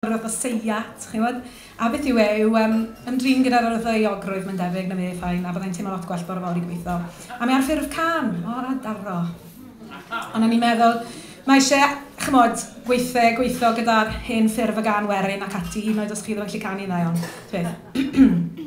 Yr oedd y seiat, chi'n gwybod. A beth yw e, yw yym ymdrin gyda'r yr oedd y euogrwydd, mae'n debyg, na fe, fine, a fydda i'n teimlo lot gwell bore fory, gobeithio. A mae ar ffurf cân. O, a daro. Ond o'n i'n meddwl, mae eisiau, chimod, gweithdai a gweithio gyda'r hen ffurf y gân werin ac ati, hyd yn oed os chi ddim yn gallu canu'n dda iawn, ta beth.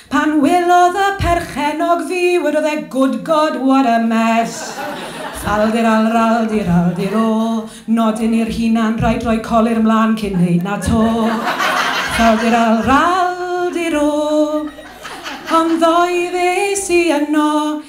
Pan welodd y perchennog fi, wedodd e, Good God, what a mess! Fal-di-ral-ral-di-ral-di-ro, nodyn i'r hunan, rhaid rhoi colur 'mlan cyn neud 'na to. Fal-di-ral-ral-di-ro. Ond ddoe ddes i yno.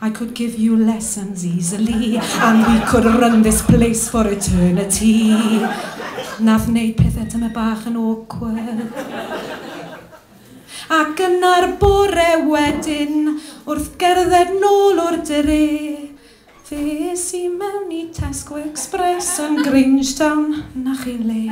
I could give you lessons easily and we could run this place for eternity. Nath neud pethe tymed bach yn awkward. Ac yna'r bore wedyn, wrth gerdded nôl o'r dre, Ddes i mewn i Tesco Express yn Grangetown, 'na chi'n le.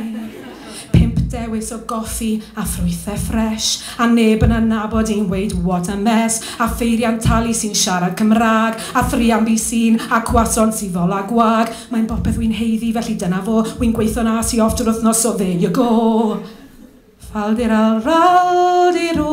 Pump dewis o goffi a ffrwythau ffres, a neb yn adnabod i'n weud 'what a mess', a pheiriant talu sy'n siarad Cymraeg, a thriambu sy'n a croissant sydd ddol a gwag. Mae'n bopeth wy'n haeddu, felly dyna fo. Wy'n gweithio'n as i off drwy'r wythnos, so there you go! Fal-de-ral, ral-de-ro.